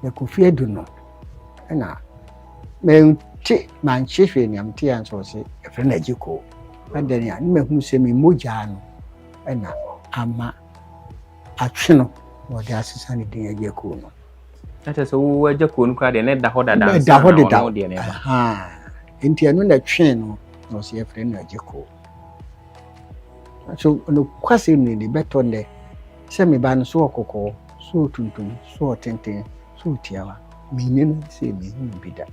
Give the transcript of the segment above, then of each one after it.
mekɔ fie adu no ɛna mente manhye hwee nea mete a nso ɔse ɛfrɛ no agye koo adɛn a ne mahunu sɛ me mogyaa no ɛna ama atwe no na ɔde asesa ne din agye koo no ɛkyɛ sɛ wowɔ agya kuo no koraa deɛ na ɛda hɔ dada ɛda hɔ deda nti ɛno na ɛtwee no na ɔsɛ yɛfrɛ no agye koo so nokwasɛm ne ne bɛtɔ nnɛ Sɛ me ba no, so ɔɔ kɔkɔɔ, so ɔɔ tuntum, so ɔɔ tenten, so ɔɔ tiawa, me nni no sɛ me hu no bi da.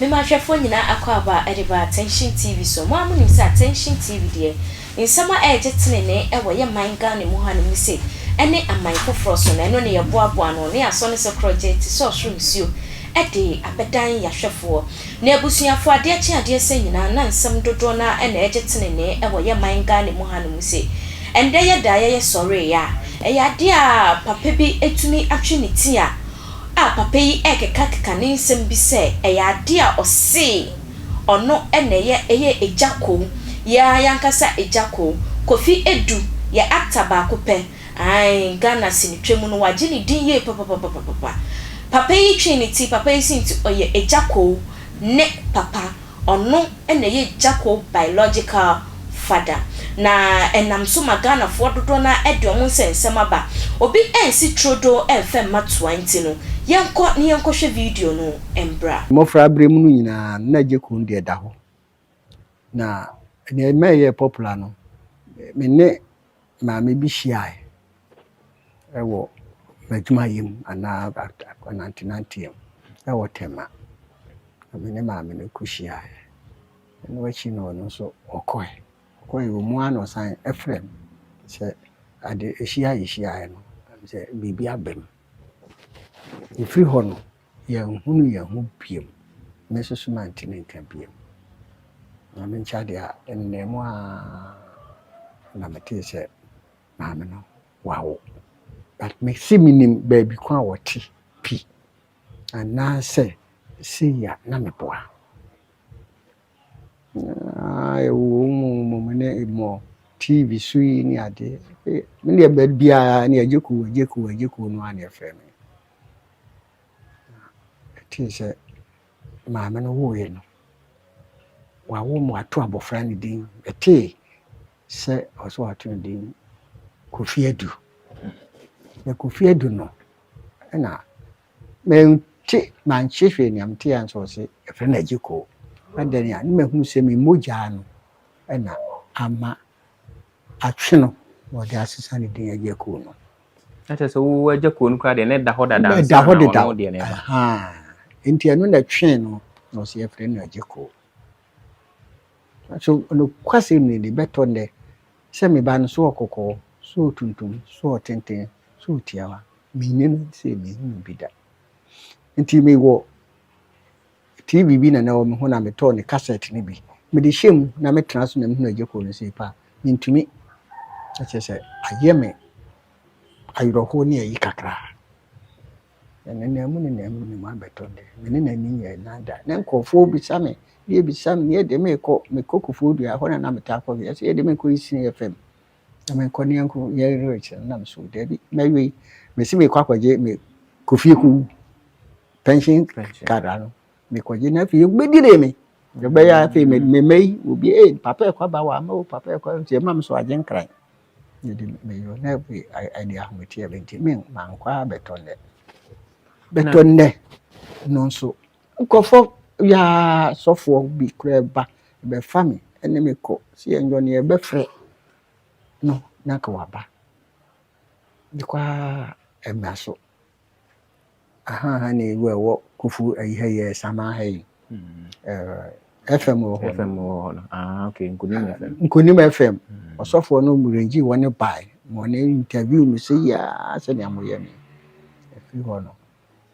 Me ma hwɛfoɔ nyinaa akwaaba a ɛde ba Attention TV so. Mo ara monim sɛ Attention TV deɛ, nsɛm a ɛregye tenenee ɛwɔ yɛ man Ghana mu hanom ne sei, ɛne aman foforɔ so no, ɛno ne yɛboaboa ano ne asɔ no sɛ korɔgye te sɛ ɔsoro nsuo de abɛdan yɛahwɛfoɔ ne abusuafoɔ adeɛ kye adeɛ sɛ nyinaa na nsɛm dodoɔ no ara na ɛregye tenenee ɛwɔ yɛ man Ghana mu hanom ne sei. Ɛndɛ yɛda a yɛyɛ sɔreeɛ a, ɛyɛ adeɛ a papa bi tumi atwe ne ti a a papa yi rekekakeka ne nsɛm bi sɛ ɛyɛ adeɛ a ɔse ɔno na ɛyɛ ɛyɛ Agya Koow, yɛ ara y'ankasa Agya Koow, Kofi Adu, yɛ actor baako pɛ, ae Ghana sinitwa mu no w'agye ne din yie papapapapapa. Papa yi twee ne ti, papa yi se nti ɔyɛ Agya Koow ne papa. Ɔno na ɛyɛ Gyako biological father. Na ɛnam so ma Ghanafoɔ dodoɔ no ara de wɔn nsɛnsɛm aba. Obi ansi turodoo amfa mma toa nti no, yɛnkɔ na yɛnkɔhwɛ video no mmra. Mmɔfraberɛ mu no nyinaa no, na Gyako no deɛ da hɔ. Na deɛ ɛma ɛyɛɛ popular no, me ne Maame bi hyiae wɔ m'adwumayɛ mu anaa anantenanteɛ mu wɔ Tema. Na me ne maame no ko hyiaeɛ. Ɛno akyi no ɔno nso ɔkɔe. Ɔkɔe wɔ mu ara na ɔsan frɛɛ me sɛ ade ahyia a yɛhyiaeɛ no sɛ biribi aba mu. Ɛfiri hɔ no. Yɛnhunu yɛn ho biom, me soso mantimi nka biom. Na me nkyɛ adeɛ a, ɛnnɛɛ mu ara na metee sɛ maame no wawo. But me se menim baabi ko a wɔte pi, anaasɛ sei a na meboa. Ah, ɛwɔ mu mmom ne mmɔ TV so yi ne adeɛ. Me deɛ baabi a ne agye kuo, agye kuo, agye kuo no a na ɛfrɛ me. Na ɛtee sɛ maame no woeɛ no, wawo ma wato abɔfra no din. Ɛtee sɛ ɔwɔ sɛ wɔato no din Kofi Adu. Na Kofi Adu no, ɛna mente, manhye hwee nea mete a nso ɔse ɛfrɛ no Agyekoo. Adɛn a, ne mahunu sɛ me mogya no na ama atwe no na ɔde asesa ne din Agyekoo no. na kyerɛ sɛ wo agya kuo no koraa deɛ na ɛda hɔ dada na ɛda hɔ deda deɛ na ɛba nti ɛno na ɛtwɛn no na ɔsɛ yɛfrɛ no agya kuo so nokwasɛm ni de bɛtɔ nnɛ sɛ me ba no so ɔkɔkɔɔ so ɔtuntum so ɔtenten so ɔtiawa menni no sɛ mehu no bi da nti mewɔ TV bi na na ɛwɔ me ho na metɔɔ ne kasɛt no bi. Mede hyɛɛ mu na metena so na mehunu Agyekoo no sei pɛ a, mentumi. Na kyerɛ sɛ ayɛ me awerɛhoɔ ne ayi kakra. Nenam mu nenam mu ne mabɛtɔ de, me ne n'ani nyɛɛ nan da. Na nkurɔfoɔ bisa me, deɛ bisa me, yɛ deɛ merekɔ, mekɔ Kufuor dua, ɛhɔ na na metaa kɔ wieɛ, sɛ yɛ deɛ merekɔ Isini FM na merekɔ ne anko yɛ lyrics no, na meso daabi, mɛwe, mese merekɔ akɔgye me Kofie Kuw. pension card ano mekɔgye na afei wobɛdire me ɛbɛyɛ afei mema yi obi ee papa ɛkɔ aba wɔ ama o papa ɛkɔ nti ɛma me so agye nkran yɛde meyɔ na afei ɛde ahometeɛ bɛ nti me mankɔ a bɛtɔ nnɛ bɛtɔ nnɛ no nso nkɔfɔ yaa sɔfoɔ bi koraa ba bɛfa me ɛne me kɔ sɛ yɛnyɔ ne yɛbɛfrɛ no na nka waba ne kɔ a ɛmma so Ahaa ha na ewu a ɛwɔ Kofu ayi ha yɛ Samaa ha yi. Ɛɛ FM wɔ hɔ. FM wɔ hɔ no. Ah okay, Nkunim FM. Nkunim FM. Ɔsɔfoɔ no Murenji wɔn ne bae. Wɔn ne interview me sɛ yaa sɛnea moyɛ me. Ɛfiri hɔ no,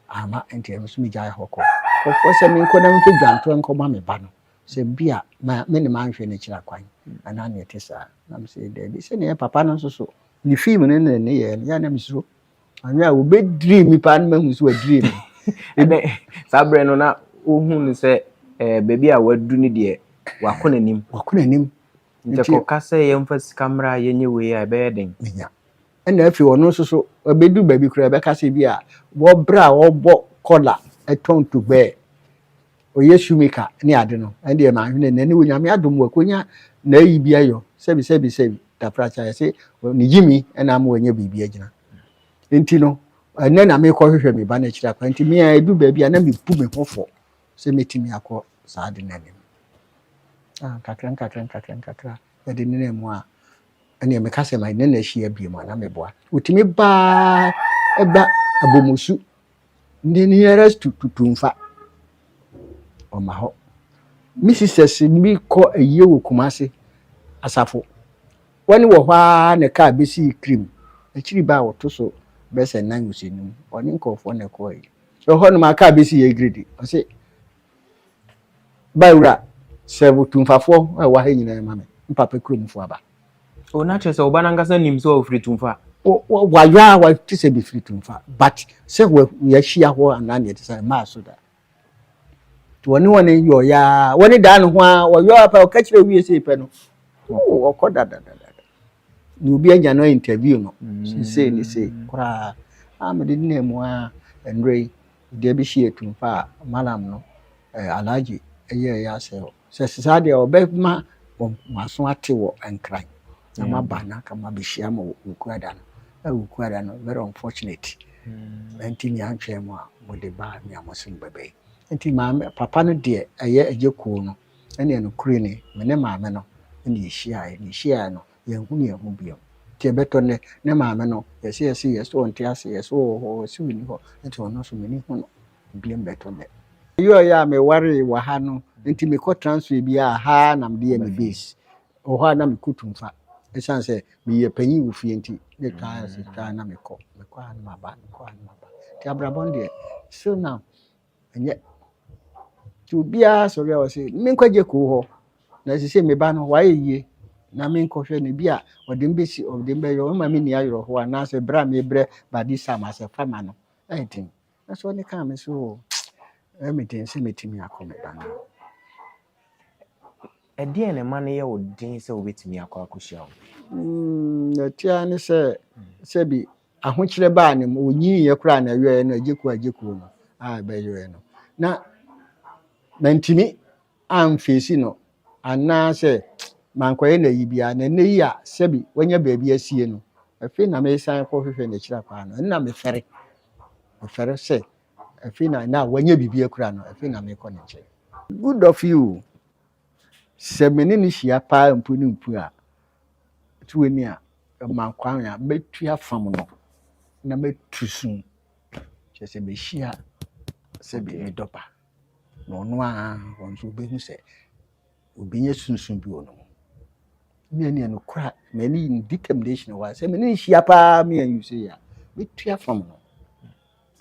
ama nti ɛno nso megyae hɔ kɔ. Kɔfoɔ sɛ menkɔ na memfa dwantoa nkɔma me ba no. Sɛ bi a ma me ne manhwɛ no akyira kwan anaa nea ɛte saa. Na mesɛ daabi. Sɛnea ɛyɛ papa no nso so, ne film no ne ne nneyɛɛ no, yɛ a na mesuro. Ɔnyɛ a wɔbɛdiri me paa no mahu so wadiri me. Ɛnɛ saa berɛ no na wohu no sɛ eh, baabi a wadu no deɛ wakɔ n'anim. Wakɔ n'anim. Nti kɔka sɛ yɛmfa sika mmra a yɛnyɛ wei a ɛbɛyɛ den. Menya. Ɛna afei ɔno nso so ɔbɛdu baabi koraa ɛbɛka sɛ bi a wɔbrɛ a wɔbɔ kɔla ɛtɔn tugbɛɛ. ɔyɛ shoemaker ne ade no ɛndeɛ manhwene nɛ ne wɔ nyame adom wakonya nayi bi ayɔ sɛbi sɛbi sɛbi taprakya yɛse ne gyimi ɛna ama wanya biribi agyina nti no ɛnɛ na mekɔ hwehwɛ me ba no akyiri akwa nti mea ɛdu baabi a na mebu me ho fɔ sɛ mɛtumi akɔ saa ade no anim ah, nkakra nkakra nkakra nkakra yɛde nena mu a ɛneɛ meka sɛ ma ne na ahyia bie mu a na meboa wotumi baa ɛba abɔmusu Ne nearest to Tutumfa, ɔma hɔ. Me sisters bi kɔ ayie wɔ Kumasi, Asafo. Wɔne wɔ hɔ ara na kaa bɛsii Krim. Akyiri baa wɔto so bɛsɛ nan ɔsɛnum. Ɔne nkurɔfoɔ na ɛkɔɔe. Ɛhɔ nom a kaa bɛsii Egiredi. Ɔse Ba wura, sɛ wo Tumfafoɔ a ɛwɔ ha nyinaa ma me, me papa kuromfoɔ aba. O, na kyerɛ sɛ wo ba no ankasa nim sɛ ɔfiri Tumfa. Wɔ, wayɔ a wate sɛ mefiri Tumfa, but sɛ wɔ, yɛahyia hɔ anaa deɛ ɛte saa, ɛmmaa so da. Nti wɔne wɔne yɔɔyɛ ara, wɔne daa ne ho ara, wɔyɔ ara pɛ, ɔka kyerɛ wie sei pɛ no, o, ɔkɔ dadadadada. na obi anya no interview no sesei ne sei koraa a mede denaa mu a ɛnora yi deɛ bi hye atum fa a malam no alagye ɛyɛ ɛyɛ asɛ hɔ sɛ sesaa deɛ ɔbɛma maso ate wɔ nkran na maba na ka mabɛhyia ma wukuada no ɛ wukuada no very unfortunate ɛnti nea antwɛn mu a mode baa nea mo se mobɛbɛyi nti maame papa no deɛ ɛyɛ ɛgye koo no Ɛnneɛ nokorɛ ni, me ne Maame no na yɛhyiaeɛ, na yɛhyiaeɛ no, yɛanhunu yɛn ho bio. Enti ɛbɛtɔ nnɛ, ne Maame no, yɛse yɛse, yɛse ɔnte ase, yɛse ɔwɔ hɔ, yɛse ɔnni hɔ, enti ɔno nso m'ani hu no bio ɛbɛtɔ nnɛ. Ɛyɔɔ yɛ a mewaree wɔ ha no, enti mekɔ transfer bi a, ha ara na mede yɛ me base. Wɔ hɔ a na mekɔ Tumfa, ɛsiane sɛ meyɛ panin wɔ fie nti, na ɛtwa ara ɛtwa ara na mekɔ, mekɔ ha na maba, mekɔ ha na maba. Enti abrabɔ no deɛ, still now, Ɛnyɛ. Nti obiara sɔre a ɔsɛ me nkwagye kurow hɔ na ɛsɛ sɛ me ba no wayɛ yie na me nkɔhwɛ no bi a ɔde me bɛsi ɔde me bɛyɛ ɔma me ni ayerɛhoɔ anaasɛ berɛ a mebrɛ body sam asɛ fa ma no ɛyɛ den nanso ɔne kaa me so o ɛyɛ me den sɛ mɛtumi akɔ me ba no ɛdeɛn na ɛma no yɛ wo den sɛ wobɛtumi akɔ akɔhyia wo mm, ɛtea ne sɛ sɛbi ahokyerɛ baa ne mu ɔnyiiɛ koraa na ɛyɔɛ no agyekuo agyekuo no a ɛbɛyɔɛ no na mantumi amfeesi no anaasɛ mankɔyɛ no ayi biara na ɛnɛ yi a sɛbi wanya baabi asie no afei na mesan kɔhwehwɛ n'akyiri akwan no ɛnna mefɛre mefɛre sɛ afei na ɛnɛ a wanya biribi akura no afei na mekɔ ne nkyɛn good of you Sɛ me ne no hyia paa mpu ne mpu a, to w'ani a, ɛma kwan a mɛtu afam no na mɛtu so. Kyerɛ sɛ mehyia sɛdeɛ medɔ ba na ɔno a wɔn nso wobɛhu sɛ obɛnya sunsun bi wɔ no mu. Me ne no kora me ne determination wɔ sɛ me ne nhyia paa me a you say a mɛtu afam no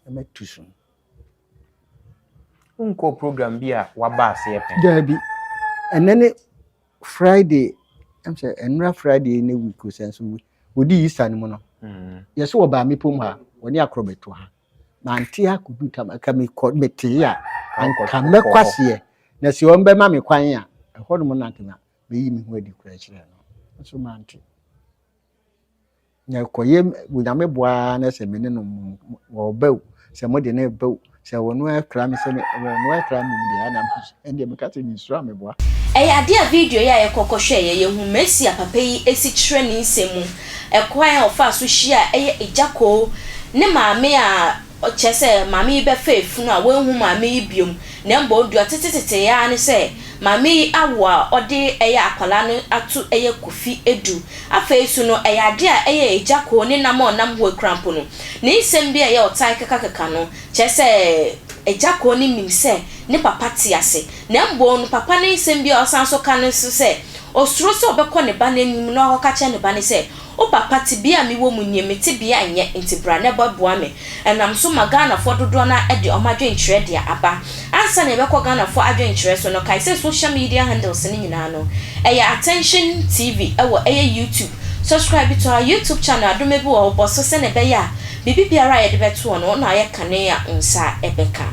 na mɛtu so. Wonkɔɔ program bi a waba aseɛ pɛn? Daabi. Ɛnɛ ne Friday, ɛm sɛ ɛnora Friday ne week o sɛ nso wɔdi Easter no mu no. Mm. Yɛ so wɔbaa me pom ha, wɔne akorɔ bɛto ha. Mante akɔdu tam, ka mekɔ metee a, anka mɛkɔ aseɛ. Na sɛ wɔn bɛma me kwan a, ɛhɔ nom na anka mɛyi me ho adi kura kyerɛ no. Nso mante. Na ɛkɔyɛ Onyame boa ara na sɛ me ne no wɔba o, sɛ mode no ba o, sɛ ɔno akura me sɛ ɔno akura me deɛ ana ɛndeɛ meka sɛ mensuro ameboa. Ɛyɛ adeɛ a video yi a yɛkɔ kɔhwɛeɛ yɛhu Mercy a papa yi si kyerɛ ne nsɛm mu, ɛkwan a ɔfaa so hyiaa ɛyɛ Agyakoo ne maame a Ɔkyerɛ sɛ, maame yi bɛfa afunu a wanhu maame yi biom, na mmom deɛ ɔte tetetee ara ne sɛ maame yi awo a ɔde yɛ akwadaa no ato yɛ kofi du. Afei nso no, ɛyɛ adeɛ a ɛyɛ agya koo ne nam a ɔnam ho akura mpo no, ne nsɛm bi a ɛyɛ ɔtaa kekakeka no kyerɛ sɛ agya koo no nim sɛ ne papa te ase, na mmom no papa no nsɛm bi a ɔsan nso ka ne nso sɛ, ɔsuro sɛ ɔbɛkɔ ne ba no anim na wakɔka akyerɛ ne ba no sɛ, O papa tebea a me wɔ mu nie me tebea nyɛ nti bra na bɛ boa me ɛnam so ma Ghanafoɔ dodoɔ no ara de ɔmo adwenkyerɛ deɛ aba. Ansa na yɛbɛkɔ Ghanafoɔ adwenkyerɛ so no kae sɛ social media handles no nyinaa no ɛyɛ Attention TV ɛwɔ ɛyɛ YouTube subscribe to our YouTube channel adome bi wɔ hɔ bɔ so sɛnea ɛbɛyɛ a biribi biara a yɛde bɛtoɔ no wo na ayɛ kane a wo nsa ɛbɛka.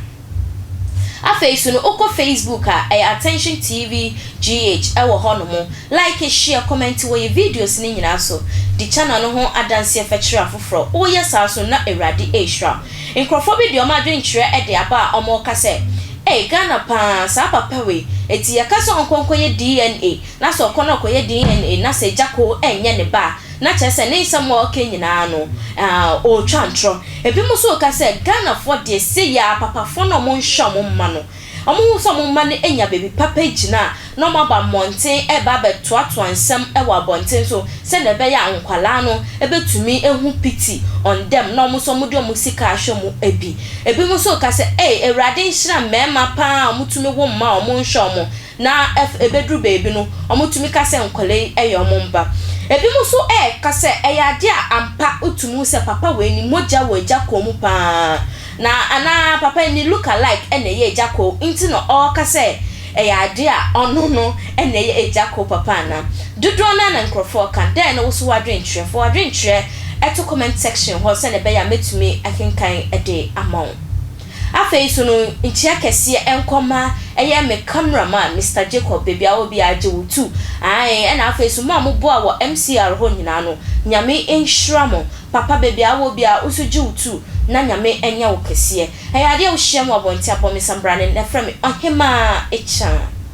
Afei so no wokɔ Facebook a, ɛyɛ Attention TV GH, ɛwɔ hɔ nom. Like, share, comment wɔ yɛ videos no nyinaa so. Di channel no ho adanseɛ fɛ kyerɛ afoforɔ. Woyɛ saa nso no na Awurade rehyira wo. Nkorɔfoɔ bi de wɔn adwenkyerɛ de aba a wɔreka sɛ, Ei, Ghana pa ara, saa papa wei, enti yɛka sɛ ɔnkɔ nkɔyɛ DNA, na sɛ ɔkɔ na ɔkɔyɛ DNA na sɛ agya koo ɛnyɛ ne ba a, Na kyerɛ sɛ ne nsɛm a ɔreka nyinaa no, ɔretwa ntorɔ. Ebinom nso reka sɛ Ghanafoɔ deɛ sei ara papafoɔ no a wɔnhwɛ wɔn mma no, wɔhu sɛ wɔn mma no anya baabi papa agyina a, na wɔaba mmɔnten reba abɛtoatoa nsɛm wɔ abɔnten so sɛdeɛ ɛbɛyɛ a nkwadaa no bɛtumi ahu pity on them na wɔn nso wɔde wɔn sika ahwɛ mu bi. Ebinom nso reka sɛ, Ei, Awurade nhyira mmarima pa ara a wɔtumi wo mma a wɔnhwɛ wɔn. Na ɛf ɛbɛduru baabi no, wɔtumi ka sɛ nkwadaa yi yɛ wɔn mma. Ɛbinom nso reka sɛ ɛyɛ adeɛ a ampa wotumi hu sɛ papa wei ne mogya wɔ agya kɔn mu pa ara, na anaa papa yi ne look-alike na ɛyɛ agya kɔn nti na ɔreka sɛ ɛyɛ adeɛ a ɔno no na ɛyɛ agya kɔn papa anaa. Dodoɔ no ara na nkorɔfoɔ reka. Dɛn ne wo nso w'adwenkyerɛ? Fa w'adwenkyerɛ to comment section hɔ sɛdeɛ ɛbɛyɛ a mɛtumi akenkan de ama wo. Afei so no nkyea kɛseɛ nkɔ mma ɛyɛ me camera man Mister Jacob baabi a wɔ biara gye wo tu ae ɛna afei so mo a mo boa wɔ MCR hɔ nyinaa no Nyame nhyira mo papa baabi a wɔ biara wo nso gye wo tu na Nyame nyɛ wo kɛseɛ ɛyɛ adeɛ a wo hyia mu wɔ abɔnten abɔ me sambrane na frɛ me Ɔhemaa Akyan.